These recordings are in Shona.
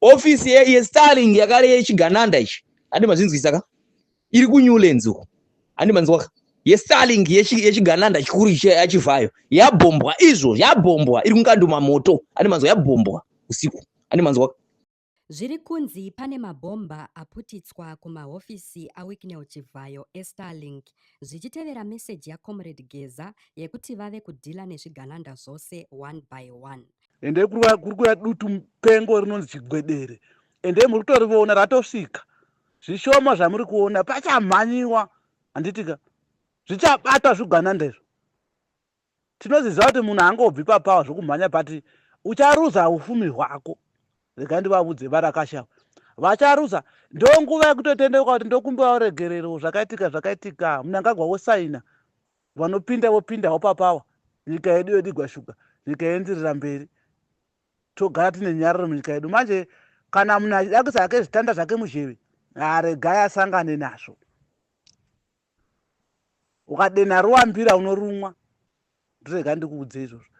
ofisi yestarling yakare yechigananda ichi handi mazvinzwisa ka iri kunewlands uko handi manzwaka yestarling yechigananda chikuru yachivhayo yabhombwa izvo yabhombwa iri kunganduma moto handi manzwa yabhombwa usiku handi manzwaka zviri kunzi pane mabhomba aputitswa kumahofisi awicknel chivhayo estarlink zvichitevera meseji yacomrade geza yekuti vave kudhila nezvigananda zvose one by one ende kuri kuya dutu mupengo rinonzi chigwedere ende muri kutoriona ratosvika zvishoma zvamuri kuona pachamhanyiwa handitika zvichabatwa zvigwananda izvo tinoziziva kuti munhu angobvi papawa zvokumhanya pati ucharuza ufumi hwako rega ndivavudze varakasha vacharuza ndonguva yekutotendeuka kuti ndokumbiwa uregerero zvakaitika zvakaitika munangagwa wosaina vanopinda vopindawo papawa nyika yedu yodigwa shuga nyika yoendirira mberi togara tine nyararo munyika yedu manje kana munhu achidakisa hake zvitanda zvake muzheve haregai asangane nazvo ukadenha ruwambira unorumwa ndirega ndikuudze izvozvo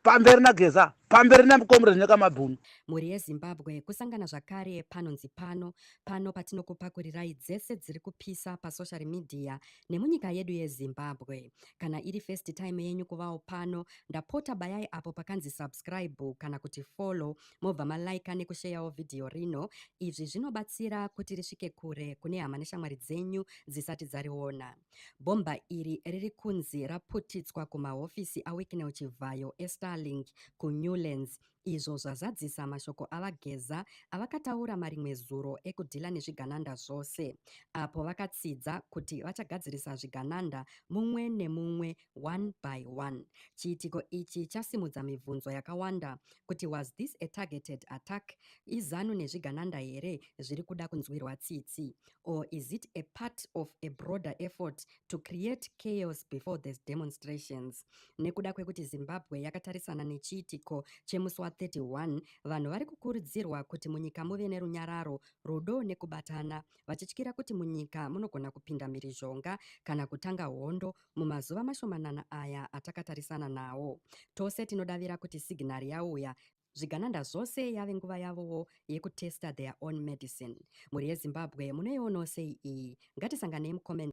pamberi nageza pamberi namkomrade nyakamabhunu mhuri yezimbabwe kusangana zvakare panonzi pano pano patinokupakurirai dzese dziri kupisa pasocial media nemunyika yedu yezimbabwe kana iri first time yenyu kuvawo pano ndapota bayai apo pakanzi subscribe kana kuti follow mobva malaika nekusheyawo vhidhiyo rino izvi zvinobatsira kuti risvike kure kune hama neshamwari dzenyu dzisati dzariona Bhomba iri riri kunzi raputidzwa kumahofisi aWicknell Chivhayo eStarlink kuNewlands izvo zvazadzisa mashoko aVaGeza avakataura marimwe zuro ekudhila nezvigananda zvose apo vakatsidza kuti vachagadzirisa zvigananda mumwe nemumwe one by one. Chiitiko ichi chasimudza mibvunzo yakawanda kuti was this a targeted attack? IZanu nezvigananda here zviri kuda kunzwirwa tsitsi? or is it a part of a broader effort to create chaos before these demonstrations nekuda kwekuti zimbabwe yakatarisana nechiitiko chemusi wa31 vanhu vari kukurudzirwa kuti munyika muve nerunyararo rudo nekubatana vachityira kuti munyika munogona kupinda mhirizhonga kana kutanga hondo mumazuva mashomanana aya atakatarisana nawo tose tinodavira kuti signari yauya Zvigananda zvose yave nguva yavowo yekutesta their own medicine. Mhuri yeZimbabwe munoionawo sei iyi? Ngatisanganei mucomment.